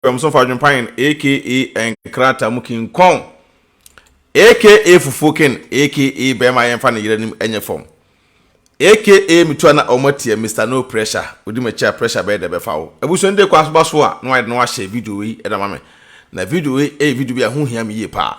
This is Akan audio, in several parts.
Ɔkɔm so fa adwempanyin aka nkrataa mu kin kɔn aka fufuo kin aka bɛɛma yɛn fa ne yere anim ɛnyɛ fam aka metua na ɔmo atia Mister no pressure odi m'akyi a pressure bɛyɛ dɛ bɛfa wo abusua no de kɔ asoba so a na wayɛ de na wahyɛ video wei ɛda ma me na video wei ɛyɛ video bi a ho hia me yie paa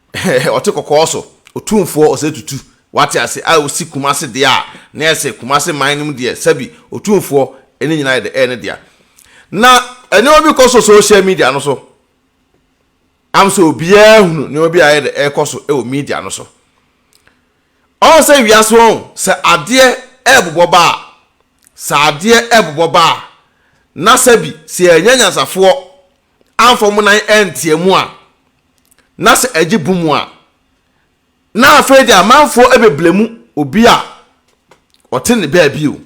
Ɔte kɔkɔɔ so, Otumfoɔ Osei Tutu, wate ase, a osi Kumasi deɛ a na ɛyɛ sɛ Kumasi man no mu deɛ, sɛbi, Otumfoɔ, ɛne nyinaa yɛ dɛ, ɛyɛ ne dea. Na nneɛma bi kɔ so social media no so, am sɛ obiara hunu nneɛma bi a ɛyɛ dɛ ɛrekɔ so wɔ media no so. Ɔn sɛ wiase wɔn, sɛ adeɛ ɛrebobɔ ba a, sɛ adeɛ ɛrebobɔ ba a, na sɛbi, sɛ yɛannya anyansafoɔ amfa wɔn nan antia mu a, na sɛ ɛgye bo mu a, na afei de amanfoɔ ɛbɛbla mu obi a ɔte ne baabi o.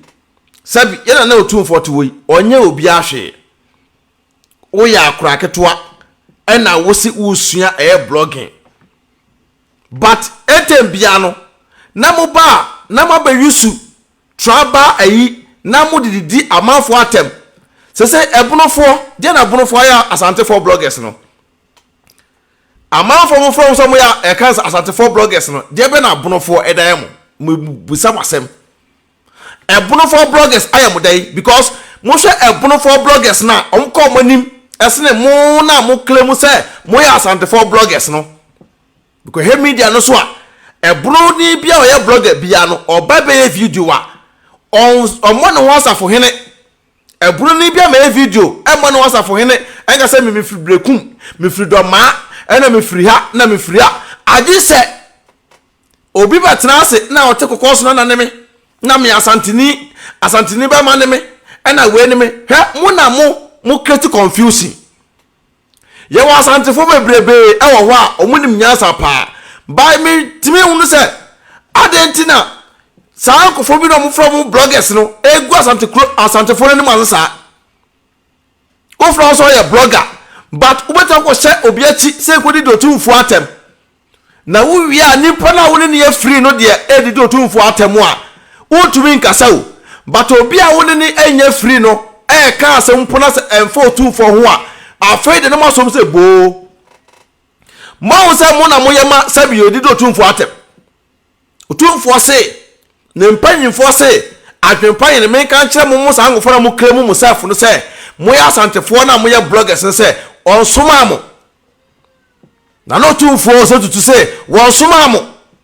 Sɛbi, yɛna na otumfoɔ te hɔ yi, ɔnyɛ obiara hwee. Woyɛ akora ketewa, ɛna wose wosua ɛyɛ blogging. But ɛtɛm bia no, na mo ba a, na mo abɛyusu tribal ayi, na mo de didi amanfoɔ atɛm. Sɛsɛ ɛbonofoɔ, deɛ na abonofoɔ ayɛ asantefoɔ bloggers no? Amanfoɔ mo frɛ mo sɛ mo yɛ ɛka sɛ asantefoɔ bloggers no deɛ bɛ na abonofoɔ ɛda yɛ mo mo bisa mo asɛm ɛbonofoɔ bloggers ayɛ mo dɛn because mo hwɛ ɛbonofoɔ bloggers na wɔn kɔ mo anim ɛsene mo na mo claim sɛ mo yɛ asantefoɔ bloggers no because hɛ media no so a ɛbono ni bia ɔyɛ blogger bia no ɔba bɛyɛ video a ɔmmɔ ne ho asafo hene Ɛbronii bi ama yɛ video ɛma no ɔsafohene ɛnka sɛ me me firi brekum me firi dɔmaa ɛna me firi ha na me firi ha agye sɛ obi bɛ tena ase na ɔte kɔkɔɔ so na na ne me na me asantini asantini bɛma ne me ɛna wei ne me hwɛ mo na mo mo create confusion Yɛwɔ Asantefo bebrebee wɔ hɔ a wɔnim nyansa paa. Bae mitumi hunu sɛ adɛn nti na saa nkurɔfoɔ bi na wɔfrɛ wɔn bloggers no gu Asante kuro Asantefo no anim ase saa. Wofrɛ wɔn sɛ wɔyɛ blogger but wobɛtumi akɔhyɛ obi akyi sɛ nkɔdi deɛ ɔtumfoɔ atɛm. Na wo wie a nipa no a wo ne no afiri no deɛ ɛredidi otumfoɔ atɛm a, wontumi nkasa o. But obi a wo ne no nnya afiri no ɛreka asɛm mpo na sɛ ɛmfa otumfoɔ ho a, afei deɛ na moasom sɛ boo. Moahu sɛ mo na moyɛ ma sɛbi ɛredidi otumfoɔ atɛm. Otumfoɔ se, ne mpanyimfoɔ se, adwenpa yɛn menka nkyerɛ mo mo saa nkɔfoɔ na mo claim mo self no sɛ moyɛ asantefoɔ na moyɛ bloggers no sɛ ɔnsomaa mo. Na na ɔtumfoɔ Hosea tutu sɛ, Wɔnsomaa mo,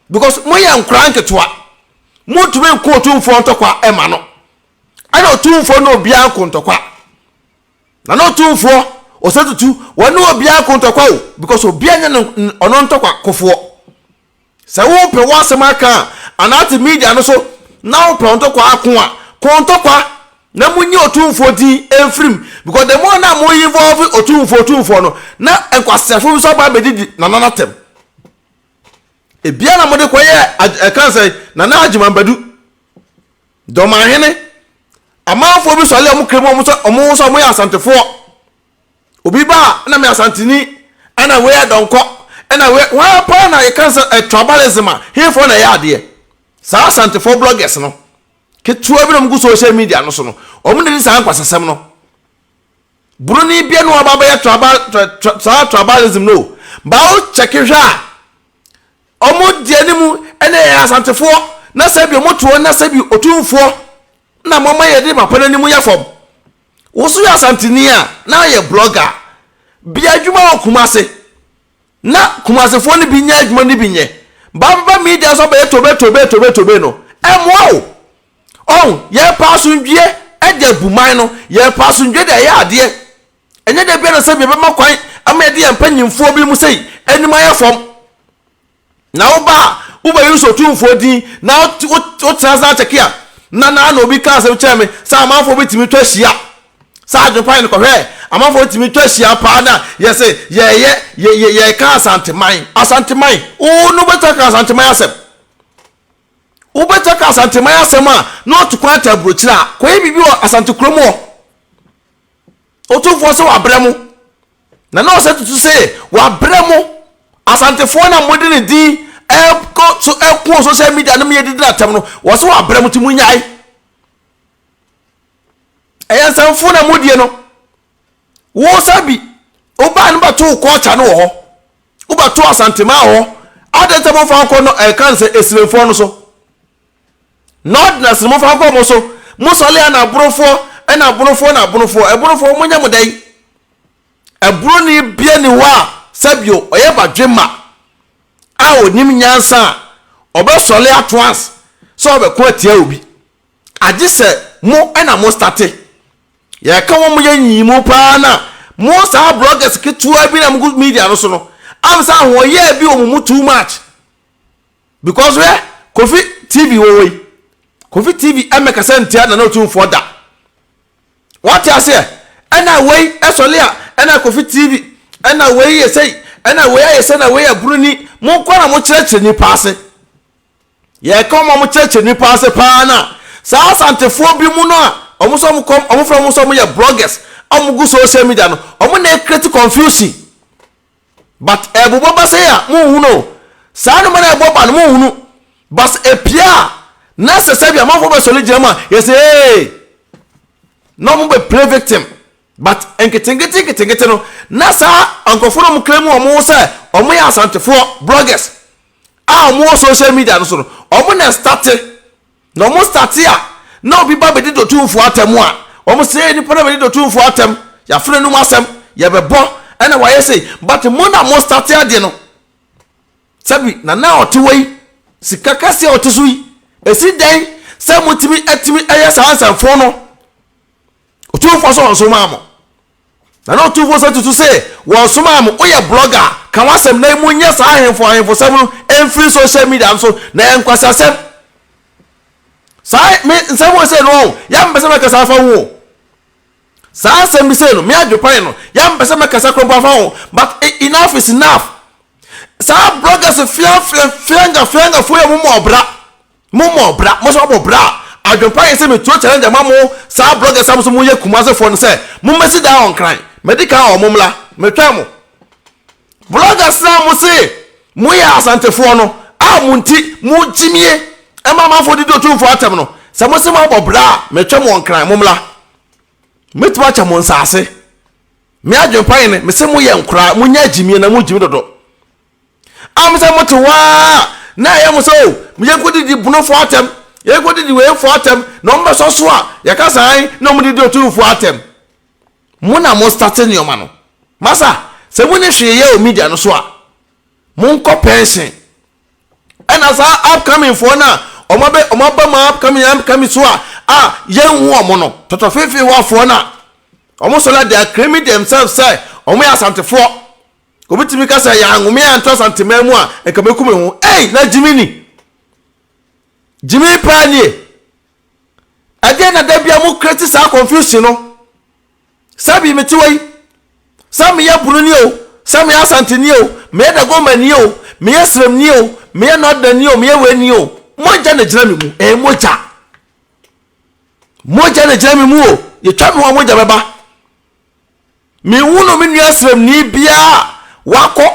because moyɛ nkoraa nketewa. Montumi nko ɔtumfoɔ ntɔkwa ɛma no. Ɛna ɔtumfoɔ ne obiara nko ntɔkwa. Na na ɔtumfoɔ Hosea tutu, wɔne obiara nko ntɔkwa o, because obiara nyɛ ɔno ntɔkwa kofoɔ. Sɛ wopɛ w'asɛm aka a, anate media no so na wopɛ ntɔkwa ako a, kɔ ntɔkwa na monyi otumfoɔ din mfiri mu because the more na mo involve otumfoɔ otumfoɔ no na nkwaseafo bi nso aba abɛdidi Nana no atɛm. Ebia na mode kɔyɛ ɛka nsɛ Nana Agyeman Badu Dɔmanhene amanfoɔ bi sɔre a wɔkra mu wɔn sɛ wɔn ho sɛ wɔyɛ Asantefoɔ. Obi ba a na me Asanteni ɛna wei yɛ dɔnkɔ ɛna wei wɔn ara paa na yɛka sɛ ɛ tribalism a hefoɔ na ɛyɛ adeɛ saa Asantefoɔ bloggers no ketewa bi na wɔn gu social media no so no wɔn na di saa nkwasasɛm no Buroni bia na wɔaba abɛyɛ tribal tra, tra, saa tribalism no ba wo kyɛke hwɛ a wɔn deɛ ne mu ɛna yɛ Asantefoɔ na sɛ bi wɔn to wɔn na sɛ bi otumfoɔ na wɔn ama yɛde papa no anim yɛ fam. Wo nso yɛ Asanteni a na ayɛ blɔga a, bia adwuma wɔ Kumase na Kumasefoɔ no bi nyɛ adwuma no bi nyɛ. Ba bɛba media so abɛyɛ tobe tobe tobe tobe no, ɛmmoa wo. Ɔho, yɛpɛ asomdwie de abu man no, yɛpɛ asomdwie de ayɛ adeɛ. Ɛnyɛ da bia na sɛbi yɛbɛma kwan ama yɛde yɛn mpanyinfoɔ bi mu sei anim ayɛ fam. Na woba a, wobɛ use Otumfoɔ din na wotena ase akyɛke a, na na na obi ka asɛm kyerɛ me sɛ amanfoɔ bɛtumi twa hyia. Saa adwenpan no kɔhwɛɛ, amanfoɔ tumi twa hyia paa na yɛse yɛɛyɛ yɛ yɛɛka Asanteman, Asanteman, oo na wobɛtumi aka Asanteman asɛm. Wobɛtumi aka Asanteman asɛm a na ɔto kwan tɛ aburokyire a, kɔyɛ biribi wɔ Asante kurom hɔ. Otumfoɔ sɛ wabrɛ mo. Na na ɔsɛ tutu sɛ wabrɛ mo Asantefoɔ no a mode ne din ɛkɔ so ɛko social media no meyɛ didi no atɛm no, ɔsɛ wabrɛ mo ti mo nyae. Ɛyɛ nsanfuo na modie no. Wo sɛ bi, wobaa no bɛto wo kɔɔkya no wɔ hɔ. Wobɛto Asantemaa wɔ hɔ. Adɛn sɛ momfa nkɔ no ɛka no sɛ Esirenfoɔ no so. Northerners no mofa nkɔ mo so mo sɔle a na abonofoɔ ɛna abonofoɔ na abonofoɔ ɛbonofoɔ mo nyɛ mo dɛn ɛbononi bia ni hɔ a sɛbio ɔyɛ badwemma a onim nyansa a ɔbɛ sɔle ato ans sɛ ɔbɛko atia obi agye sɛ mo ɛna mo state yɛka wɔn mo yɛ nyiyi mu paa na mo saa bloggers ketewa bi na mo gu media no so no am sɛ ahoɔyɛ bi wɔ mo mu too much because hwɛ kofi tv wɔ hɔ yi kofi tv ɛmɛ kasa ntia nana otumfoɔ da wɔte aseɛ ɛna wei ɛsɔle a ɛna kofi tv ɛna wei yɛ sɛi ɛna wei ayɛ sɛ na wei yɛ buroni mo nkɔ na mo kyerɛkyerɛ nipa ase yɛka wɔn a mo kyerɛkyerɛ nipa ase paa na saa asantefoɔ bi mu no a wɔn nso wɔn kɔm wɔn fura wɔn nso wɔn yɛ bloggers a wɔn gu social media no wɔn na ekreti confusion but ɛbobɔ ba sɛi a monhu no o, saa nnoɔma no a ɛbɔ ba no monhu no but ɛpie a na sɛ sɛdeɛ amanfoɔ bɛsɔre gyina mu a yɛsɛ eeii na wɔn bɛ play victim but nketenkete nketenkete no na saa nkurɔfoɔ no wɔn kra mu wɔn ho sɛ wɔn yɛ asantefoɔ bloggers a wɔn wɔ social media no so no wɔn na ɛstate Na wɔn startee a na obi ba bedi dotumfoɔ atɛm a, wɔn se yɛ nipa na bedi dotumfoɔ atɛm, yɛafrɛ nom asɛm, yɛbɛbɔ ɛna wayɛ sei, but mo na mo startee adeɛ no. Sɛbi nana a ɔtewa yi, sika kɛseɛ a ɔte so yi, esi dɛn sɛ motumi atumi ɛyɛ saa nsɛmfoo no? Otumfoɔ sɛ ɔnsomaa mo. Na na Otumfoɔ sɛ tutu se wɔnsomaa mo, woyɛ blogger a, ka w'asɛm na mo nyɛ saa ahemfo ahemfosɛm no mfiri social media no so, na ɛyɛ nkwaseasɛm. Saa me nsɛm wɔ sei no ɔn, yɛ a mempɛ sɛ mɛkasa afa ho o. Saa nsɛm bi sei no, me adwepan no, yɛ a mempɛ sɛ mɛkasa koraa mpo afa ho, but enough is enough. Saa bloggers fiafia fianga fiangafoɔ yi a wɔn mu ɔbra, Mo mɔ bra mo nso mabɔ bra a adwenpa yɛ sɛ metuo challenge ama mo saa bloggers a mo nso mo yɛ Kumasi foɔ no sɛ mo mmɛsi dan wɔ Nkran mɛdi kan wɔ mo mmra metwɛn mo bloggers no a mo se mo yɛ Asante foɔ no a mo nti mo gyimie ɛma amanfoɔ didi otumfoɔ atɛm no sɛ mo se mo abɔ bra a metwɛn mo wɔ Nkran mo mmra mɛtumi akyɛ mo nsaase me adwenpa yɛ ne me se mo yɛ nkoraa mo nya gyimie na mo gyimi dodo. Am sɛ mote hɔ ara a, na ɛyɛ mo sɛ o, yɛnkɔdidi Bonofoɔ atɛm, yɛnkɔdidi Weifoɔ atɛm, na wɔbɛsɔ so a, yɛka sɛ ae, na wɔdidi Otumfoɔ atɛm. Mo na mo starte nneɛma no. Masa, sɛ monni hwee yɛ wɔ media no so a, monkɔ pɛnhyen. Ɛna saa upcoming foɔ no a, wɔn abɛ, wɔn aba mu upcoming, upcoming so a, a yɛnhu wɔn no, tɔtɔfeefeewafoɔ no a, wɔn sɔre a, they are claiming themselves sɛ wɔn yɛ Asantefoɔ. Obi tumi ka sɛ yɛanwo me anto Asanteman mu a nka mɛku me ho. Ei, na Gyimi ni. Gyimi paa nie. Ɛdeɛ na da bia mo kreti saa confusion no. Sɛ bi mete wɔ yi, sɛ meyɛ bunu nie o, sɛ meyɛ Asante nie o, meyɛ Dagoma nie o, meyɛ Srem nie o, meyɛ Northern nie o, meyɛ wei nie o. Mogya na gyina me mu. Ɛyɛ mogya. Mogya na gyina me mu o. Yɛtwa me ho a mogya bɛba. Menhunuu me nua srɛmni biara a wakɔ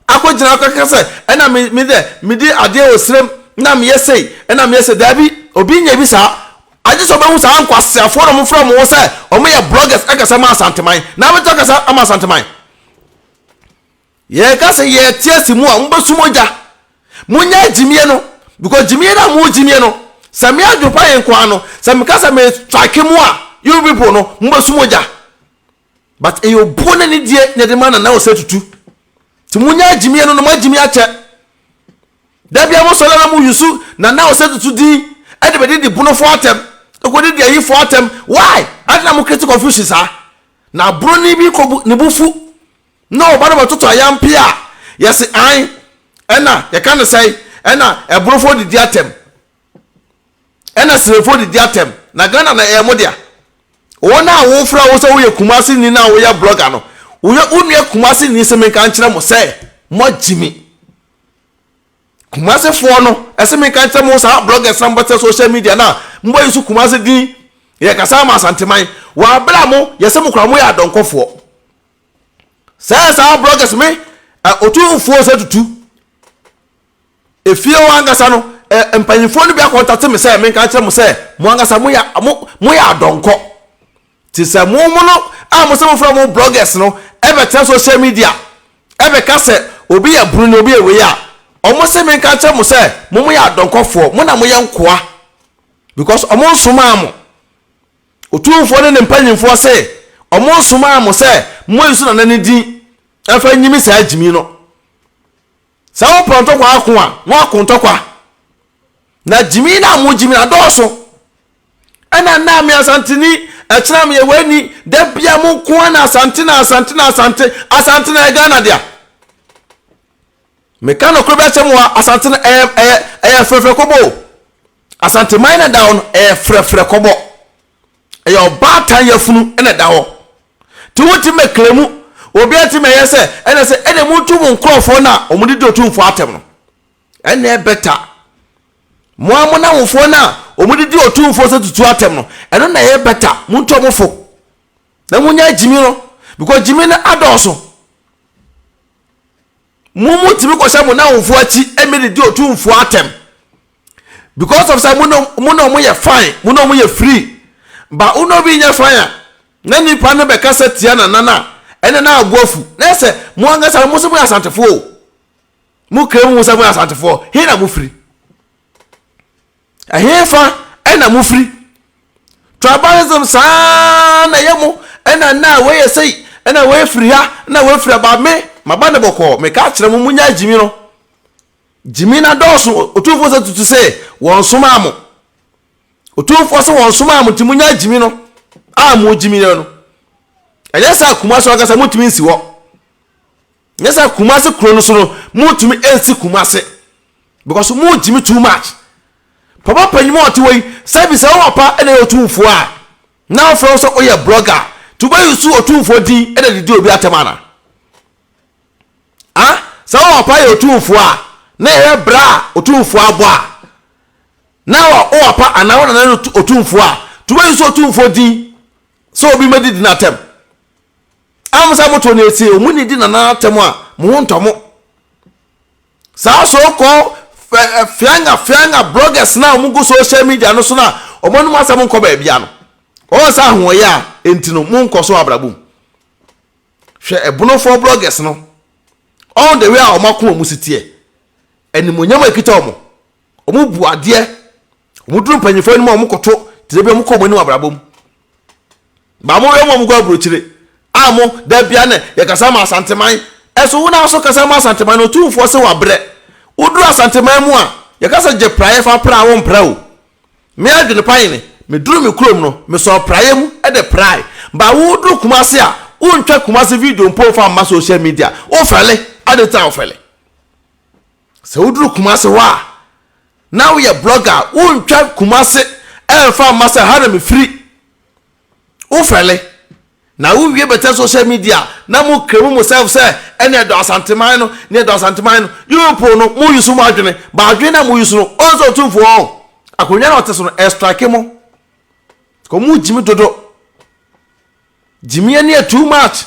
akɔgyina hɔ kaka sɛ, ɛna me me dɛ medi adeɛ wɔ srɛm na meyɛ sei ɛna meyɛ sei. Daabi, obi nyɛ bi saa. Agye sɛ wobɛhu saa nkwaseafoɔ na wɔfrɛ wɔn ho sɛ wɔyɛ bloggers kasa ma Asanteman na abɛtumi akasa ama Asanteman. Yɛka sɛ yɛte ase mu a mobɛsu mogya. Monyɛ gyimie no because gyimie no a mo gyimie no sɛ me adwopa yɛ nkoa no sɛ meka sɛ me strike mo a you people no mobɛsu mogya. But ɛyɛ obuo ne ne die na ɛde ma Nana Osei Tutu. Nti monyɛ gyimie no na mo agyimie akyɛ. Da bia mo sɔre na mo yusu Nana Osei Tutu din ɛde bɛde di bonofoɔ atɛm ɛkɔde di ayifoɔ atɛm why? Adɛn na mo create confusion saa? Na aburoni bi kɔbu ne bo fu. Na ɔba no bɛtoto ayampe a, yɛse ae, ɛna yɛka no sɛe, ɛna ɛborofoɔ didi atɛm, ɛna siremfoɔ didi atɛm, na Ghana na ɛyɛ mo dea. Wɔn a wɔfrɛ wo sɛ woyɛ Kumasi ni na woyɛ blogger no, woyɛ wo nua Kumasi ni se menka nkyerɛ mo sɛ moagye mi. Kumasi foɔ no ɛse menka nkyerɛ mo saa bloggers na mobɛtɛ social media na mobɛyi so Kumasi din yɛkasa ama Asanteman wɔ abere a mo yɛse mo kora moyɛ adɔnkɔfoɔ. Sɛ saa bloggers me ɔtumfoɔ sɛ tutu efie hɔ ankasa no mpanyinfoɔ no bi akɔntate me sɛ menka kyerɛ mo sɛ mo ankasa moyɛ mo moyɛ adɔnkɔ te sɛ mo mo no a mo sɛ mo fira mo bloggers no ɛbɛtena social media ɛbɛka sɛ obi yɛ bruni obi yɛ wei a wɔn sɛ menka kyerɛ mo sɛ mo moyɛ adɔnkɔfoɔ mo na moyɛ nkoa because wɔn nsomaa mo Otumfoɔ ne ne mpanyimfoɔ se, Wɔnsomaa mo sɛ moyi so nana no din mfa nnyimi saa gyimi no. Sɛ wopɛ ntɔkwa ako a, na woako ntɔkwa. Na gyimi no a mogyimi no adɔɔso. Ɛna nna a me Asanteni, ɛkyena meyɛ w'ani, da bia mo nko ara na Asante na Asante na Asante, Asante na ɛyɛ Ghana dea. Meka nokore bi akyerɛ mo a, Asante no ɛyɛ, ɛyɛ, ɛyɛ frɛfrɛ kobo. Asanteman na ɛda hɔ no ɛyɛ frɛfrɛ kɔbɔ ɛyɛ ɔbaatan yafunu ɛna ɛda hɔ te wo ti mɛ kle mu obi ɛte mɛ yɛ sɛ ɛna sɛ ɛna mu tu mu nkorɔfoɔ na wɔn de di otumfoɔ atɛm no ɛna ɛbɛta mo a mo na wofoɔ na wɔn de di otumfoɔ sɛ tutu atɛm no ɛno na ɛyɛ bɛta mo ntu ɔmo fo na mo nya gyimi no because gyimi no adɔɔso mo mo tumi kɔhyɛ mo na wofoɔ akyi ɛmɛ de di otumfoɔ atɛm. because of sɛ mo na mo na wɔn yɛ fine mo na wɔn yɛ free ba wɔn na obi nyɛ fine a na nipa no bɛ kasa tia na nan a ɛna na abu afu na ɛsɛ mo ankasa mo sɛ mo yɛ asantefoɔ o mo kira mu sɛ mo yɛ asantefoɔ hin na mo firi ɛhin fa ɛna mo firi tribalism saa na ɛyɛ mo ɛna na wɔyɛ sɛyi ɛna wɔyɛ firi ha ɛna wɔyɛ firi aba me maba ne bɔkɔɔ meka akyerɛ mo mo nya gyimi no. Gyimi na dɔɔso, Otumfoɔ sɛ tutu sɛ wɔnsomaa mo. Otumfoɔ sɛ wɔnsomaa mo nti monya gyimi no a mogyimi no no. Ɛnyɛ sɛ Kumasi ankasa montumi nsi hɔ. Ɛnyɛ sɛ Kumasi kuro no so no montumi nsi Kumasi because mogyimi too much. Papa panyin a ɔte hɔ yi sɛ bi sɛ wo papa na ɛyɛ otumfoɔ a na ɔfrɛ wo sɛ woyɛ blogger nti wobɛyi so otumfoɔ din na didi obi atɛm ana? a, sɛ wo papa yɛ otumfoɔ a, na yɛhwɛ berɛ a otumfoɔ abɔ a, na wɔ wo papa anaa wo nana no otumfoɔ a, nti wobɛyi sɛ otumfoɔ din sɛ obi mɛdi di n'atɛm. A mo sɛ moto no esie, ɔmo ni di nana atɛm a, mo ho ntɔ mo. Saa so kɔ fianga fianga bloggers na ɔmo gu social media no so na ɔmo anom asɛm nkɔ baabia no, wɔn sɛ ahoɔyɛ a, enti no mo nkɔ so abrabɔ mu. Hwɛ ɛbonofoɔ bloggers no all the way a wɔn akoma mu si teɛ. Animuonyam a ɛkita wɔn. Wɔn bu adeɛ. Wɔn duru mpanyinfoɔ anim a wɔn koto tire bi wɔn kɔ wɔn anim abrabɔ mu. Baa mo wɛ mo a mo kɔ aburokyire a mo da bia na yɛkasa ma asanteman. Ɛso wo na aso kasa ma asanteman no otumfoɔ se wabrɛ. Woduru asanteman mu a yɛkasa gye praeɛ fa pra a wo mpra o. Me adwene pa nyene, meduru me kurom no, mesɔɔ praeɛ mu de prae, but woreduru Kumasi a, wontwa Kumasi video mpo mfa mma social media, wofɛle, adɛn nti na wofɛle? Sɛ woduru Kumasi hɔ a, na woyɛ blogger a, wontwa Kumasi mfa mma sɛ ha na mefiri. wo fɛle na wo wie bɛtɛ social media na mo kremu mo self sɛ ɛne ɛdɔ asanteman no ne ɛdɔ asanteman no you people no mo yusu mo adwene ba adwene na mo yusu no ɔn sɛ ɔtumfoɔ ɔn akonnwa na ɔte so no ɛstrike mo kɔ mo gyimi dodo gyimi ɛne ɛ too much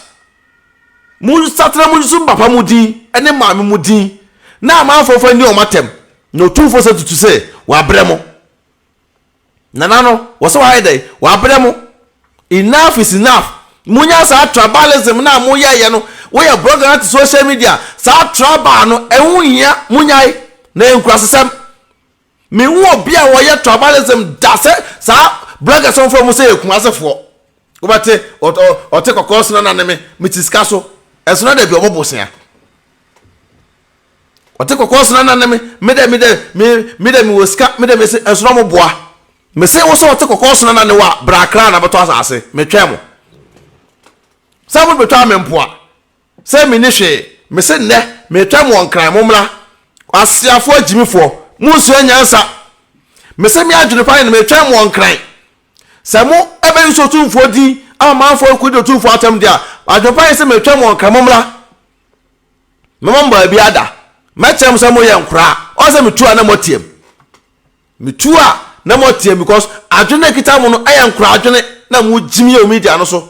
mo satena mo yusu mo papa mo din ɛne maame mo din na amanfoɔ fa ni ɔmo atɛm na ɔtumfoɔ sɛ tutu sɛ wabrɛ mo Nana no wɔ sɛ wayɛ dɛn? Wabrɛ mo. Enough is enough. Monya saa tribalism no a moyɛeɛ no, woyɛ blogger na te social media a, saa tribal no ɛho nhia, monyae. Na ɛyɛ nkurasesɛm. Menhu obi a ɔyɛ tribalism da sɛ saa bloggers a wɔfrɛ wɔn sɛ yɛ Kumasefoɔ. Wobɛte ɔte kɔkɔɔ sena na ne me, mete sika so. Ɛsona da bi ɔmo bosea. Ɔte kɔkɔɔ sena na ne me me dɛ me dɛ me me dɛ me wɔ sika me dɛ me se ɛnso na mo boa. Me se wo sɛ ɔte kɔkɔɔ sena na ne wa bra akra na bɛtɔ asase me twɛn mo. Sɛ mo bɛtwa me mpoa sɛ me ni hwee me se nnɛ me twɛn mo wɔ nkran mo mmra Asiafoɔ agyimifoɔ mo nsua nyansa me se me adwene pa ne no me twɛn mo wɔ nkran sɛ mo ɛbɛ use otumfoɔ din ama amanfoɔ rekɔ di otumfoɔ atam deɛ a adwene pa ne se me twɛn mo wɔ nkran mo mmra Me mom baabi ada. Mɛteɛ mo sɛ moyɛ nkoraa. Ɔn sɛ metu a na moateam. Metu a na moateam because adwene no a ɛkita mo no ɛyɛ nkoraa adwene na mogyim yɛ wɔ media no so.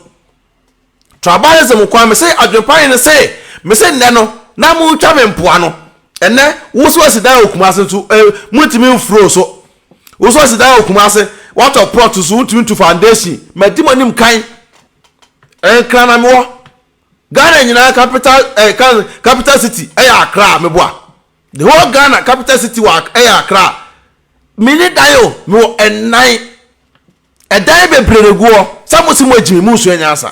Tribalism nko ara. Mese adwene pa hene se mese nnɛ no na motwa me mpoano. Ɛnnɛ wo se wasi dan wɔ Kumase nso eh montumi mforo so. Wo se wasi dan wɔ Kumase watɔ plot nso wontumi ntu foundation. Madi mo anim kan. Nkran na mewɔ. Ghana nyinaa capital eh, capital city ɛyɛ Accra meboa the whole Ghana capital city wɔ ɛyɛ Accra mini dan o mewɔ ɛnan ɛdan bebree na egu hɔ sɛ mo si mo agyimi mo nsua nyansa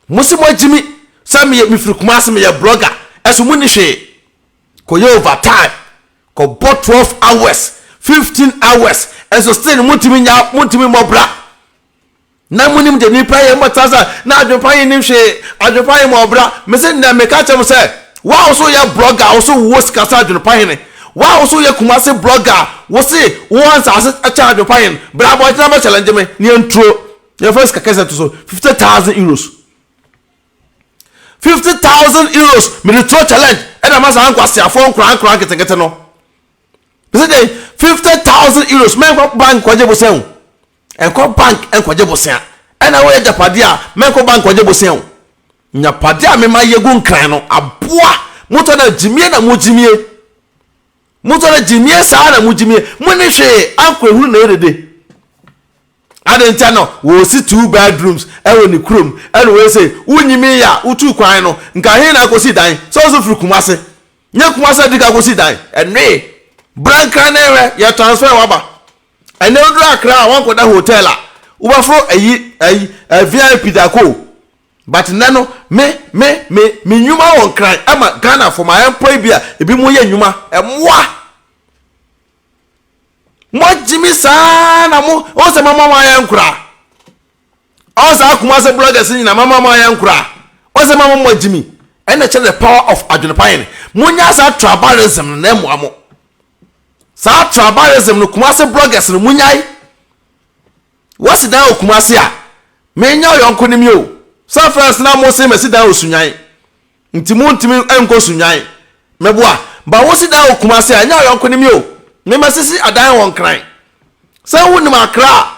mo si mo agyimi sɛ meyɛ mefiri Kumasi meyɛ blogger ɛso mo ni hwee kɔyɛ over time kɔbɔ twelve hours fifteen hours ɛso still mo ntumi nya mo ntumi mmɔ bra Na monim deɛ nnipa yɛ, mobɛtena ase a na adwempa yi nnim hwee, adwempa yi ma ɔbra, mese nnɛ meka akyerɛ mo sɛ, wo a wo se woyɛ blogger a wo se wowɔ sika sɛ adwempa hene, wo a wo se woyɛ Kumasi blogger a wo se wowɔ nsaase kyɛn adwempa hene, bra abɔntene bɛ challenge me na yɛnturo, yɛmfa sika kɛseɛ nto so, fifty thousand euros, fifty thousand euros mede turo challenge ɛna ma saa nkwaseafoɔ nkorankora nketenkete no, mese deɛ fifty thousand euros mɛnkɔ bank kɔgye bosɛn o. Nkɔ bank nkɔgye bosea. Ɛna woyɛ agyapadeɛ a, mɛnkɔ bank nkɔgye bosea o. Agyapadeɛ a mema yɛgu nkran no, aboa. Motɔ no a, gyimie na mogyimie. Motɔ no a, gyimie saa na mogyimie. Monni hwee, ankɔ ehunu na ɛyɛ dede. Adɛn ntia no, wɔsi two bedrooms wɔ ne kurom, ɛna wei sei. Wonyimii a, wotuu kwan no, nka he na akɔsi dan? Sɛ wo nso firi Kumasi. Nyɛ Kumasi na di kan kɔsi dan. Ɛnoe. Bra nkran na hwɛ, yɛtransfer wo aba. Ɛnɛ woduru Accra a woankɔda hotel a wobɛforo ayi ayi eh, VIP daako o But nnɛ no me me me me nnwuma wɔ nkran ɛma Ghanafo ma ɛmpɔ ebi a ebinom yɛ nnwuma ɛmmoa Moagye me saa na mo wohu sɛ mama mo ayɛ nkoraa Ɔn saa Kumase bloggers nyina mama mo ayɛ nkoraa Wohu sɛ mama moagye me ɛna kyerɛ the power of adwene pa yɛn Monya saa trabarism no na ɛmmoa mo Saa tribalism no Kumasi bloggers no mo nyae. Wasi dan wɔ Kumasi a, me nya ɔyɔnko ne me o. Sɛ first na mo se masi dan wɔ Sunyani. Nti mo ntumi nkɔ Sunyani. Me boa. Ba wosi dan wɔ Kumasi a, nya ɔyɔnko ne me o. Me ma sisi adan wɔ Nkran. Sɛ wo nim Accra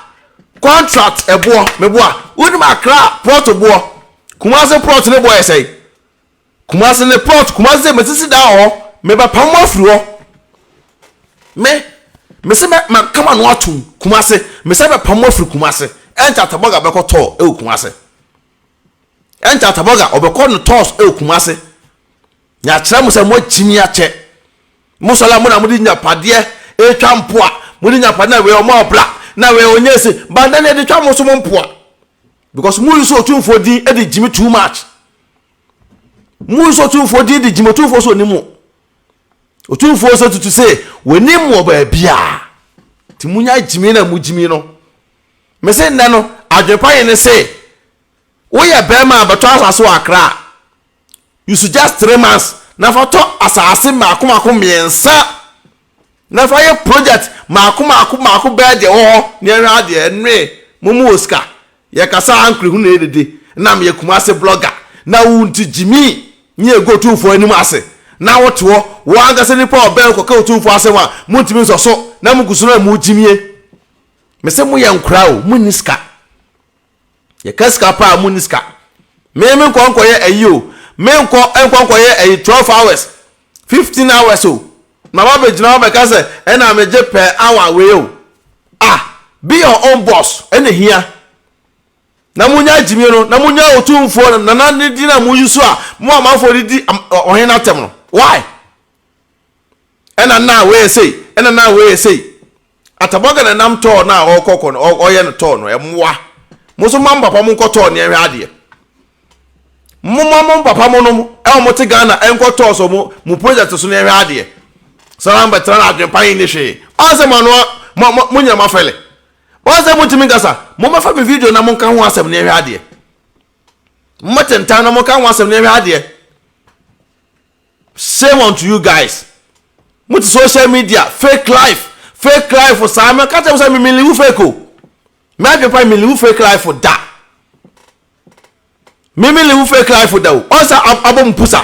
contract ɛboɔ, me boa. Wo nim Accra plot boɔ. Kumasi plot ne boɔ yɛ sɛn? Kumase ne plot Kumase sɛ masisi dan wɔ hɔ mebɛpam mo afiri hɔ me mese mɛ mɛka m'ano atom Kumase mesɛ bɛpam mo afiri Kumase ɛnkyɛ Ataboga bɛkɔ tɔɔ ɛwɔ Kumase ɛnkyɛ Ataboga ɔbɛkɔ no tɔɔs ɛwɔ Kumase yɛakyerɛ mo sɛ moagyi me akyɛ mo sɔla mo na mode nyapadeɛ ɛtwa mpoa mode nyapadeɛ na wei ɔmo abla na wei ɔnyɛ se banda ne ɛde twa mo so mo mpoa because mo use otumfoɔ din de gyimi too much mo use otumfoɔ din de gyimi otumfoɔ so onim mo otumfoɔ sɛ tutu sɛ wɔnim wɔ baabiara nti mo nya gyimi na mo gyimi no mese nnɛ no adwene pa yɛ ne se woyɛ bɛrima a bɛtɔ asase wɔ akra a use just three months na fa tɔ asaase mmaako mmaako mmiɛnsa na fa yɛ project mmaako mmaako mmaako bɛyɛ deɛ ɛwɔ hɔ na yɛhwɛ adeɛ ɛnoe mo mu wɔ sika yɛkasa ankorehunu na yɛdede na meyɛ kumase blogger na wo nti gyimi ne yɛgu otumfoɔ anim ase na wote hɔ wo ankasa nipa ɔbɛn kɔka otumfoɔ asɛm a montumi nsɔ so na mogu so na mogyimie mese moyɛ nkora o monni sika Yɛka sika paa a munni sika. Me menkɔ nkɔyɛ ayi o, menkɔ nkɔ nkɔyɛ ayi twelve hours, fifteen hours o, na wabɛgyina hɔ abɛka sɛ ɛna megye per hour wei o. Ah, be your own boss ɛna ehia. Na munya gyimie no, na munya otumfoɔ Nana ne din a mo use a mo amanfoɔ de di ɔhene no atɛm no. Why? ɛna na wɔyɛ sei ɛna na wɔyɛ sei atabɔga na nam tɔɔ no a ɔrekɔkɔ no ɔyɛ no tɔɔ no ɛmoa mo nso mo papa mo nkɔ tɔɔ nea ɛhwɛ adeɛ mo ma mo papa mo nom ɛwɔ mo te ghana ɛnkɔ tɔɔ so mo mo project so nea ɛhwɛ adeɛ sara mbɛtena na adwempa yi ne hwee ɔsɛ mo ano mo mo mo nyina mo afɛle ɔsɛ mo ntumi nkasa mo mɛfa mi video na mo nka ho asɛm nea ɛhwɛ adeɛ mo mɛtentan na mo nka ho asɛm nea ɛhwɛ adeɛ. Shame unto you guys mo te social media fake life fake life saa mɛ ka kyerɛ mo sɛ me meliwu fake o mɛ adwene pa meliwu fake life da me meliwu fake life da o ɔnsa abɔ mo pusa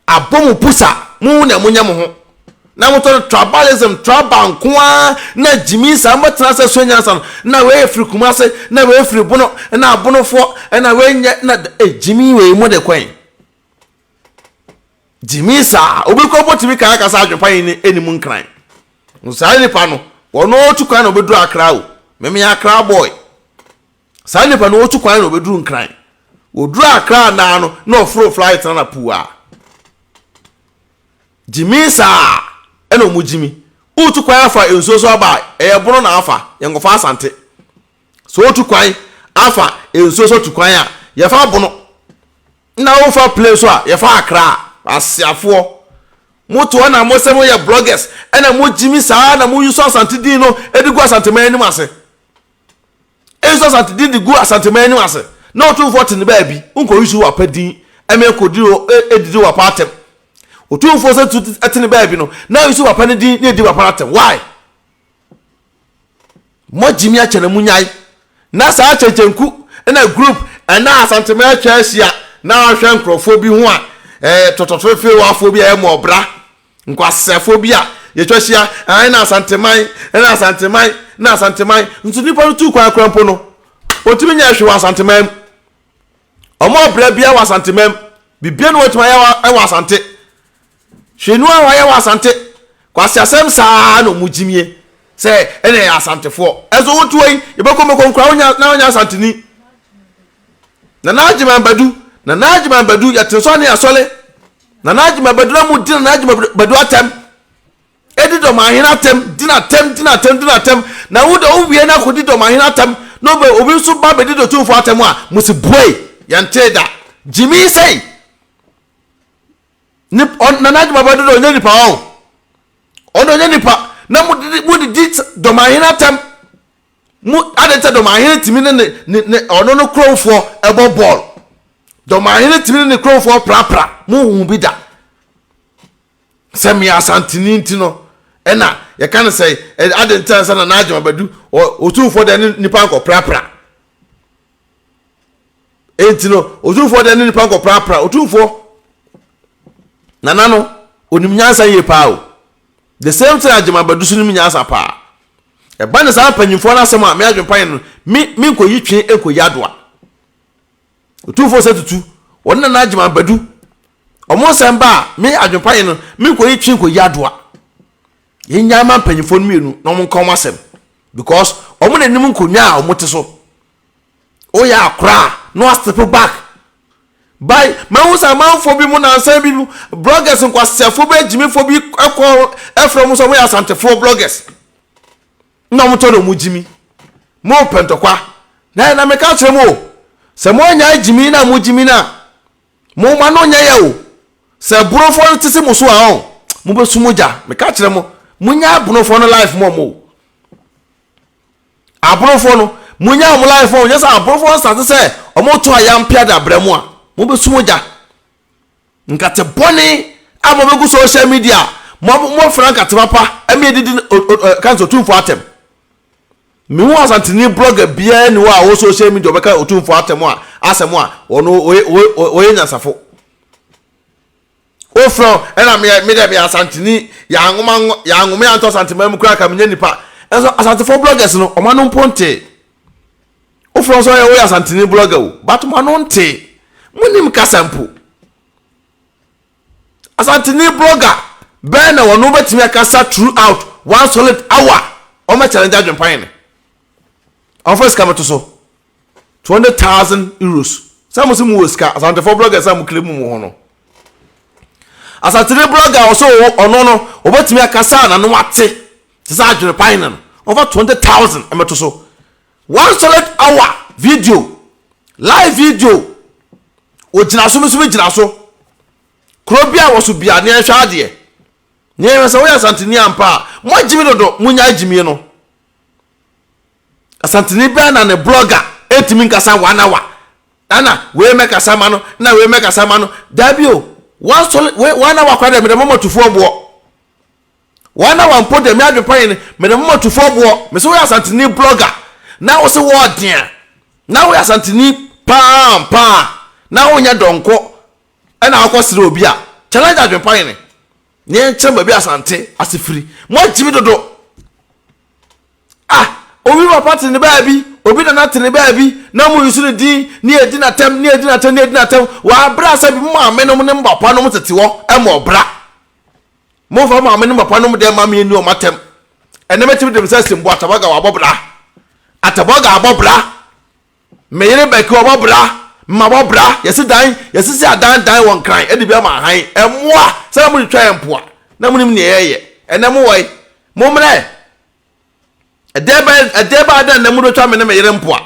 abɔ mo pusa mo na mo nyɛ mo ho na mo tɔ tribalism tribal nko ara na gyimi saa mo tena sɛ so nyansa no na wei efiri kuma ase na wei efiri bono na abonofoɔ na wei nyɛ na gyimi wei mo de kɔn. gyimii saa obi kɔ mpo tumi kaa kasa adwempa yi ne ɛni mu nkran no saa nipa no wɔn ɔtu kwan na obɛduru akra o meme akra boy saa nipa no ɔtu kwan na obɛduru nkran wɔduru akra naa no na ɔforo flight na na puu a gyimii saa ɛna ɔmu gyimi wotu kwan afa nsuo so aba ɛyɛ bono na afa yɛnkɔfa asante so wotu kwan afa nsuo so tu kwan a yɛfa bono Nna wofa plane so a, yɛfa Accra. Asiafoɔ, moto hɔ na mosɛ moyɛ bloggers, ɛna mogyimi saa na mo use Asante din no de gu Asanteman anim ase. E use Asante din de gu Asanteman anim ase, na Otumfoɔ te ne baabi, wonkɔ use w'apa din ɛmɛ kɔdiri hɔ ɛdidi w'apa atɛm. Otumfoɔ sɛ tu ɛte ne baabi no, na use w'apa no din na ɛdi w'apa no atɛm. Why? Mɔgyimi akyɛ na munyae na saa kyɛnkyɛnku na group ɛna asantema atwa ahyia na ahwɛ nkurɔfoɔ bi ho a ɛɛ tɔtɔfefewafoɔ bi a ɛyɛ mɔbra nkwaseafoɔ bi a yɛtwa ahyia ɛna asanteman ɛna asanteman na asanteman nso nipa no tu kwan kora mpo no ɔtumi nyɛ ɛhwe wɔ asanteman mu ɔmɔ ɔbra bia wɔ asanteman mu bibia no wɔtumi ayɛ wɔ asante Hwɛ nu a wɔayɛ wɔ Asante. Kwasi asɛm saa na ɔmo gyimie sɛ ɛna ɛyɛ asantefoɔ. Ɛnso wo toa yi yɛbɛkɔ mɛkɔ nkura wo nya na ɔnyɛ asanteni. Nana Agyeman Badu, Nana Agyeman Badu yɛte nsɔ ne asɔle. Nana Agyeman Badu na mo di Nana Agyeman Badu atɛm. Edi dɔmahene atɛm, di na atɛm, di na atɛm, di na atɛm. Na wo de wo wie na akɔdi dɔmahene atɛm na obe obi nso ba bɛdi dotumfoɔ atɛm a, mo se buei. Yɛntee da. Gyimii sei. ne nana adi baba dodo ɔnyɛ nipa hɔ ɔno ɔnyɛ nipa na mo de mo de di dɔmahene atɛm mo adi nkyɛn dɔmahene tìmi ne ne ne ne ɔno ne kurowfoɔ ɛbɔ bɔɔl dɔmahene tìmi ne ne kurowfoɔ prapra mo hu bi da sɛ mmea asantini nti no ɛna yɛka no sɛ adi nkyɛn sɛ nana adi baba du ɔtumfoɔ deɛ ne nipa nkɔ prapra. enti no otumfoɔ deɛ ne nipa nkɔprapra otumfoɔ nana no onim nyansa yie paa o the same thing agyema bɛdu so nim nyansa paa ɛba ne saa mpanyinfoɔ no asɛm a me adwempa yɛ no me me nkɔyi twe nkɔyi adoa otumfoɔ sɛ tutu wɔn nana agyema bɛdu wɔn nsɛm ba a me adwempa yɛ no me nkɔyi twe nkɔyi adoa. yɛnyaa ma mpanyimfoɔ no mmienu na wɔn nka wɔn asɛm because wɔn na anim nkonnwa a wɔn te so woyɛ akora a na wastepo back by mahu sɛ amanfoɔ bi mu nansan bi mu bloggers nkwaseafoɔ bi agyimifoɔ bi kɔ ɛfrɛ mu sɛ wɔyɛ asantefoɔ bloggers na wɔn tɔ na wɔn gyimi mo pɛntɔkwa na yɛ na meka kyerɛ mu o sɛ mo anya agyimi na mo gyimi na Mo mma no nyɛ yɛ o. Sɛ brɔfoɔ no tese mo so a ɔn mo bɛ su mo gya me ka kyerɛ mo mo nya abrofoɔ no life mɔ mo o abrofoɔ no mo nya ɔmo life mɔ mo nyɛ sɛ abrofoɔ no sate sɛ ɔmo to ayam pia da brɛ mo a mo bɛ su mo gya nkate bɔne a mo bɛ gu social media mo mo fira nkate papa ɛmi edidi o o kansa otumfoɔ atɛm Me hu Asanteni blogger biara nni hɔ a ɔwɔ social media ɔbɛka Otumfoɔ atɛm a asɛm a ɔno ɔyɛ ɔyɛ ɔyɛ nyansafo. Wofrɛ wo ɛna me me deɛ me yɛ Asanteni yɛanwoma nwo yɛanwome anto Asanteman mu koraa ka menyɛ nipa ɛnso Asantefoɔ bloggers no wɔn ano mpo ntee. Wofrɛ wo sɛ ɔyɛ woyɛ Asanteni blogger o but mo ano ntee. Monim kasa mpo. Asanteni blogger bɛn na wɔn bɛtumi akasa throughout one solid hour wɔn bɛ challenge adwempa yɛn wɔn fɛ sika bɛto so twenty thousand euros sɛ mo si mo wɔ sika asantefo bloggers a mo kiri mu mo ho no asanteni blogger ɔsɛ ɔno no wɔbɛtumi akasa na no ate te sɛ adwempa yɛn no wɔn fa twenty thousand ɛmɛto so. One solid hour video live video ogyina so mesome gyina so kuro bi a wɔso bia ne ɛhwɛ adeɛ ne ɛhwɛ sɛ woyɛ asanteni ampa a mo agyimi dodo mo nya agyimie no asanteni bɛn na ne blogger ɛntumi nkasa one hour ɛna wei mɛkasa ma no na wei mɛkasa ma no daa bi o one hour kora deɛ mede mɔmɔ tufoɔ boɔ Woana na wampo dɛ me adwenpa nye no, meda mo matufoɔ aboɔ. Mese woyɛ Asanteni blogger na wose wɔɔdea na woyɛ Asanteni paa ampa a na wonyɛ dɔnkɔ na wokɔ sere obi a challenge adwenpa nye no na yɛnkyerɛ mo baabi Asante ase firi. Moagye me dodo ah obi papa te ne baabi obi nana te ne baabi na mo use ne din na yɛdi no atɛm na yɛdi no atɛm na yɛdi no atɛm wɔ abere a sɛbi mo maame nom ne mo papa nom tete hɔ ma ɔbra. Momfa maame ne papa nom dɛm mma me nni wɔn atɛm. Ɛnnɛ mɛtumi de me nsa asi mbo Atabaga wabɔ bra. Atabaga abɔ bra. Me yere Bɛki wabɔ bra. Mabɔ bra. Yɛsi dan, yɛsisi adan dan wɔ Nkran de bi ama ahan. Mmoa! Sɛ na motwitwa yɛn mpoa, na monim nea yɛyɛ. Ɛnnɛ mowɔ he? Mommrɛ! ɛdeɛ bɛyɛ ɛdeɛ bɛyɛ adeɛ na nna mu de bɛtwa me ne me yere mpoa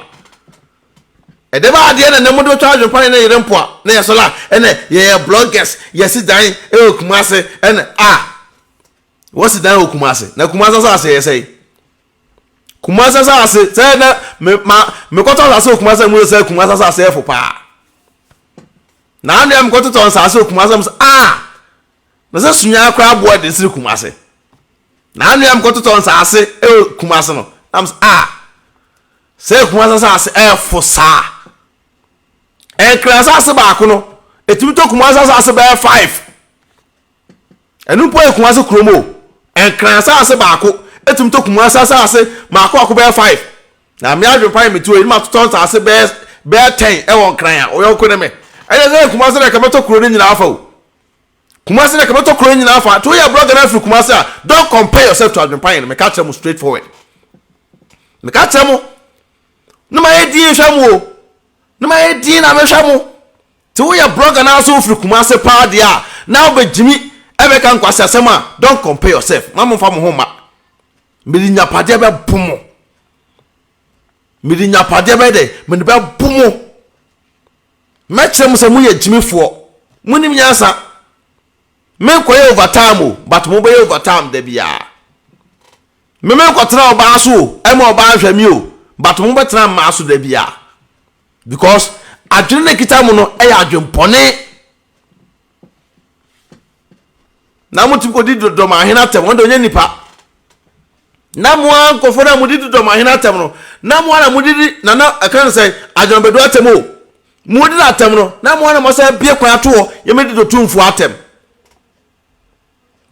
ɛdeɛ bɛyɛ adeɛ na nna mu de bɛtwa adwempa ne ne yere mpoa na yɛ sɔla ɛnɛ yɛyɛ bloggers yɛsi dan ɛwɔ kumase ɛnɛ a wɔsi dan wɔ kumase na kumase asase yɛ sɛe kumase asase sɛ na me ma mekɔtɔ asase wɔ kumase mu sɛ kumase asase yɛ fo paa na anwea mekɔtotɔ asase wɔ kumase mu sɛ a. Na sɛ suyaa koraa boɔ ɛden sene kumase. Na anwea me kɔtotɔ nsaase ɛwɔ kumase no na mesɛ ah sɛ kumase nsaase ɛfo saa ɛnkra nsaase baako no ɛtumi tɔ kumase nsaase bɛyɛ five ɛno mpo yɛ kumase kurom o ɛnkra nsaase baako ɛtumi tɔ kumase nsaase mako ako bɛyɛ five na me adwene pa yɛ metuo yi ne ma totɔ nsaase bɛyɛ bɛyɛ ten ɛwɔ nkran a ɔyɔnko ne me ɛyɛ sɛ kumase na ɛka mɛtɔ kuro no nyinaa afa o Kumasi na kɛbɛtɔ kuro nyina afa nti woyɛ blogger na afiri Kumasi a don't compare yourself to Adwenpayen no meka kyerɛ mo straight forward meka kyerɛ mo na mayɛ din hwɛ mo o na mayɛ din na mehwɛ mo nti woyɛ blogger na so wofiri Kumasi paa deɛ a na wobɛgyimi ɛbɛka nkwasi asɛm a don't compare yourself ma momfa mo ho ma mede nyapadeɛ bɛbo mo mede nyapadeɛ bɛyɛ dɛ mede bɛbo mo Mɛkyerɛ mo sɛ moyɛ gyimifoɔ, monim nyansa. Menkɔyɛ overtime o, but mobɛyɛ overtime da biara. Me menkɔtena ɔbaa so o, ɛma ɔbaa nhwɛ me o, but mobɛtena mmaa so da biara. Because adwene no ɛkita mo no yɛ adwempɔne. na wɔtumi kɔdi dɔm ahene atɛm wɔn de wɔnyɛ nipa na mo ara nkɔfoɔ no a mode di dɔm ahene atɛm no na mo ara mode di nana ɛka no sɛ adwamabɛdu atɛm o mode no atɛm no na mo ara mo asɛ bie kwan atoɔ yɛmɛdi dɔtumfoɔ atɛm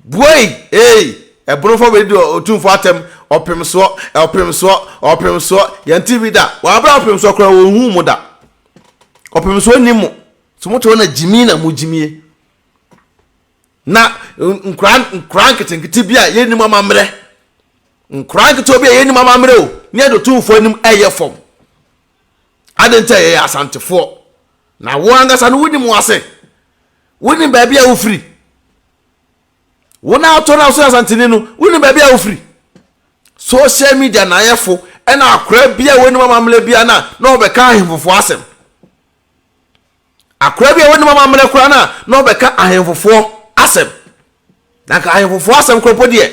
Buei! Hey! Ɛbono fa wei di Otumfoɔ atɛm, ɔpem soɔ, ɔpem soɔ, ɔpem soɔ, yɛnte bi da, wɔn abra ɔpem soɔ koraa wɔn hu mo da, ɔpem soɔ nni mo, so mo te hɔ na gyimi na mo gyimie, na nkura nkura nketenkete bi a yɛnnim amammerɛ, nkura nketewa bi a yɛnnim amammerɛ o, ne yɛde Otumfoɔ anim ɛyɛ fam, ade nti a yɛyɛ asantefoɔ, na wɔn ankasa no wonim wɔn ase. wonim baabi a wofiri wɔn a atɔ no so asantene no wonim baabi a wofiri social media naayɛfo ɛna akora bi a wɔnim amammerɛ bia no a na ɔbɛka ahemfofoɔ asɛm akora bi a wɔnim amammerɛ koraa no a na ɔbɛka ahemfofoɔ asɛm na nka ahemfofoɔ asɛm koropɔ deɛ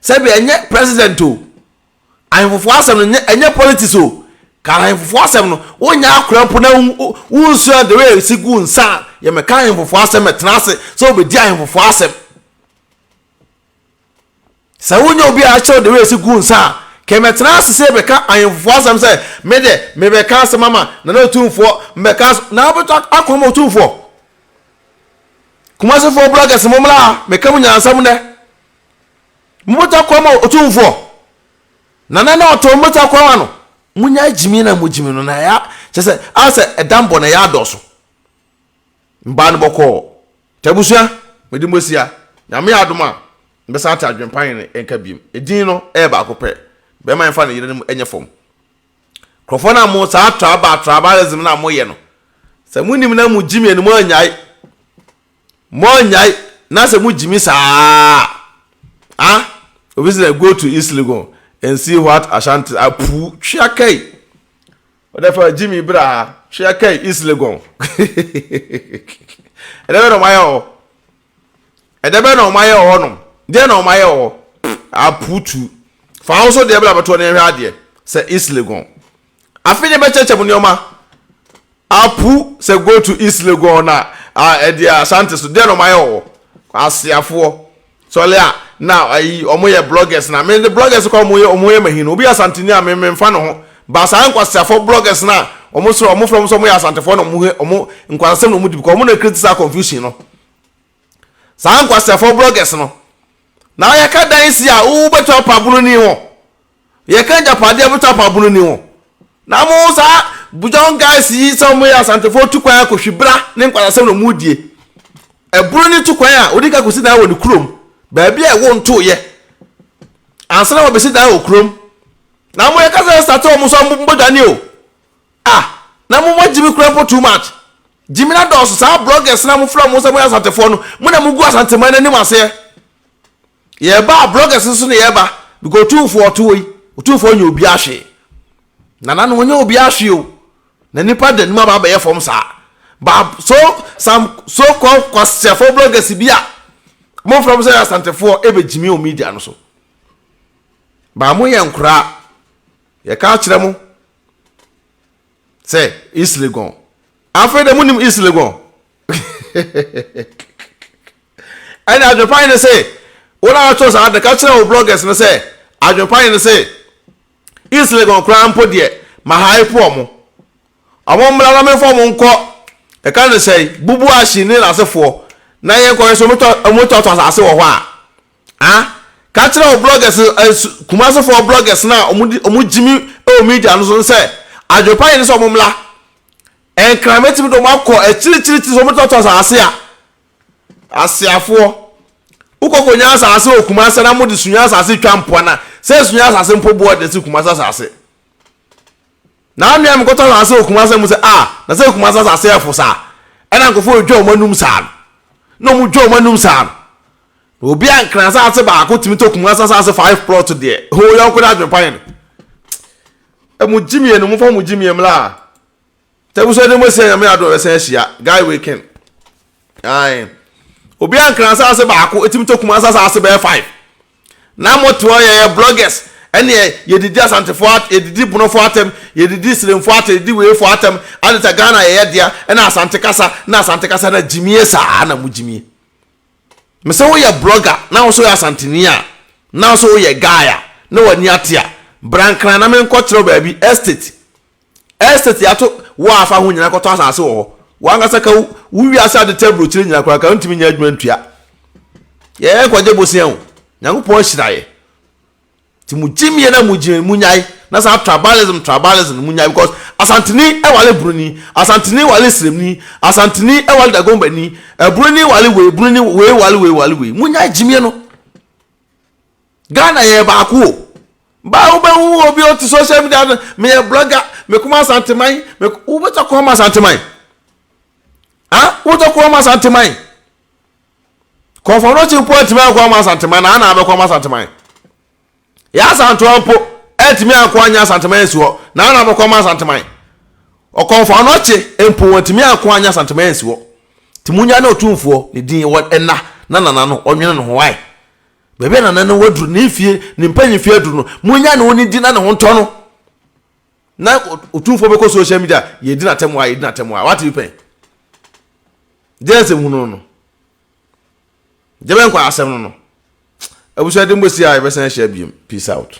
sɛbi ɛnyɛ president o Ahemfofoɔ asɛm no nyɛ ɛnyɛ politics o. Ka ahemfofoɔ asɛm no. Wonyɛ akora mpo na wonsua the way a ɛsi gu nsa a yɛmmɛka ahemfofoɔ asɛm mɛtena ase sɛ wobɛdi ahemfofoɔ asɛm. Sɛ wonyɛ obi a akyerɛw the way ɛsi gu nsa a kɛ mɛtena ase sɛ yɛbɛka ahemfofoɔ asɛm sɛ me de mebɛka asɛm ama Nana Otumfoɔ mbɛka asɛm na wobɛtɔ akɔ ama Otumfoɔ. Kumasefoɔ bloggers mommra ha mɛka mo nyansam nnɛ. Mobɔta kwa ma Otumfoɔ, na na na ɔtɔn mobɔta kwa ma no. Monya agyimi na mogyimi no, na ɛyɛ kyɛ sɛ ayɛ sɛ ɛda mbɔ na ɛyɛ adɔɔso. Mbaa no bɔkɔɔ. Nti abusua, mede mo asia. Nyame yɛ adom a, mɛsan ate adwempa he ne nka biom. Edin no yɛ baako pɛ. Bɛɛma he mfa ne yerenom nyɛ fam. Nkurɔfoɔ no a mo saa traba trabalism no a moyɛ no, sɛ monim na mogyimi animu annyae Monnyae na sɛ mugyimi saa a, ah, obi sɛ go to East Legon and see what Ashanti apu twea kai. Ɔdɛ fɛ gyimi bra twea kai East Legon. Ɛdɛ bɛ na ɔmayɛ hɔ. Ɛdɛ bɛ na ɔmayɛ hɔ nom. Deɛ na ɔmayɛ hɔ. Apu tu. Fa wo so deɛ bla bɛtoɔ ne ɛhwɛ adeɛ sɛ East Legon. Afei ne bɛkyɛkyɛ mo nneɛma. Apu sɛ go to East Legon na ɛde eh, Asante so deɛ na ɔmo ayɛ wɔ aseafoɔ sɔle a na ayi ɔmo yɛ bloggers na me de bloggers kɔ ɔmo yɛ ɔmo yɛ mahin obi Asanteni a me me nfa ne ho ba saa nkwaseafoɔ bloggers na ɔmo soro ɔmo fɛ ɔmo sɛ ɔmo yɛ Asantefoɔ na ɔmo ɔmo nkwasasɛm na ɔmo di because ɔmo na criticize confusion no saa nkwaseafoɔ bloggers no na yɛka dan si a wobɛtɔ apabolo ni ho. Yɛka agyapadeɛ bɛtɔ apabono ni ho na mo saa bugyɔn guys yi sɛ wɔyɛ asantefoɔ tu kwan akɔ hwibra ne nkwadasɛm na wɔn die ɛbono ne tu kwan a wɔde ka kɔsi dan wɔ ne kurom baabi a ɛwo ntoyɛ ansa na wɔbɛsi dan wɔ kurom na mo yɛka sɛ sate wɔn so mbɔdwane o ah na mo mo gyimi kura mpo too much gyimi na dɔɔso saa bloggers na mo fira mo sɛ mo yɛ asantefoɔ no mo na mo gu asanteman n'anim aseɛ Yɛreba a bloggers nso na yɛreba because otumfoɔ ɔte hɔ yi otumfoɔ nyɛ obi ahwee nana no ɔnyɛ obi ahwee o na nipa da nim aba abɛyɛ fam saa ba so some so called kwaseɛfoɔ bloggers bi a wɔn fam sɛ asantefoɔ ebe gyimi o media no so ba mo yɛ nkoraa yɛ ka akyerɛ mo sɛ islegon afei de mo nim islegon. Ɛnna adwempa hene se, Wo na woatwerɛ saa ade, ka kyerɛ wo bloggers no sɛ, Adwempa hene se, East Legon koraa mpo deɛ, mahaepo wɔn. Wɔmmra na memfa wɔn nkɔ Ɛka no sɛ Bubuashi ne n'asefoɔ na yɛnkɔhwɛ sɛ wɔbɛtɔtɔ asase wɔ hɔ a. Ha, ka kyerɛ wo bloggers, Kumasefoɔ bloggers no a wɔgye me wɔ media no so no sɛ, Adwempa hene se wɔmmra. Nkran mɛtumi de wɔn akɔ akyirikyirikyiri sɛ wɔbɛtɔtɔ asase a. Aseafoɔ, wokɔkɔ nya asase wɔ Kumase na mode sunya asase twa mpoa na sɛ sunya asase mpo boɔ de si Kumase asase. Na anwea mekɔtɔ asase wɔ Kumase mu sɛ a ah, na sɛ Kumase asase yɛ fo saa. Ɛna nkɔfoɔ ɔdwa wɔn anum saa no. Na wɔn dwa wɔn anum saa no. Na obi a nkran asase baako tumi tɔ Kumase asase five plot deɛ. Ho yɔnko no adwene pa yɛn. Ɛmu gyimiɛ no mo fa mo gyimiɛ mla. Tɛbusua ne mu asia nyame adom yɛbɛsan ahyia guy wei ken ae obi ankra asase baako etimi tɔ kuma asase bɛyɛ five na mo te hɔ yɛyɛ bloggers ɛneɛ yɛdidi asantefo at yɛdidi bonofo atɛm yɛdidi silemfo atɛm yɛdidi weefo atɛm adeta Ghana yɛyɛ dea ɛna asante kasa na asante kasa na gyimie saa na mo gyimie mesɛ woyɛ blogger na wo so yɛ asanteni a na wo so woyɛ guy a na wani ate a brankran na menkɔ kyerɛw baabi estate Estate ato wo a fa ho nyinaa kɔtɔ asase wɔ hɔ. W'ankasa ka wo wo wiase ade tɛ aburokyire nyinaa koraa ka wontumi nyɛ adwuma ntua. Yɛn kɔgye bosea o. Nyankopɔn ahyira yɛ. Ti mu gyim yɛ na mu gyim mu nyae na saa tribalism tribalism mu nyae because asantini ɛwale bruni asantini wale sremni asantini ɛwale dagombani ɛbruni wale wei bruni wei wale wei wale wei mu nyae gyimie no. Ghana yɛ baako o baa wobɛhu obi ɔte social media no meyɛ blogger mekoma asanteman wobɛtɔ kɔn ma asanteman ah wobɛtɔ kɔn ma asanteman kɔnfɔnɔkye mpo atumi akɔ ama asanteman na ana abɛkɔ ama asanteman yɛ asantoa mpo atumi akɔ anya asanteman asi hɔ na ana abɛkɔ ama asanteman ɔkɔnfɔnɔkye mpo watumi akɔ anya asanteman asi hɔ timunya ne ɔtumfoɔ ne din wɔ ɛna na nana no ɔnwene no ho wae Baabi a nana no waduru ne mfie ne mpanyinfie aduru no munya ne ho ne di na ne ho ntɔ no na otumfoɔ bɛkɔ social media yɛdi n'atɛm a yɛdi n'atɛm a wate bi pɛn deɛ nsɛm hunu no no deɛ bɛnkɔ asɛm no no abusua de mbɔsi a yɛbɛsan ahyia biem peace out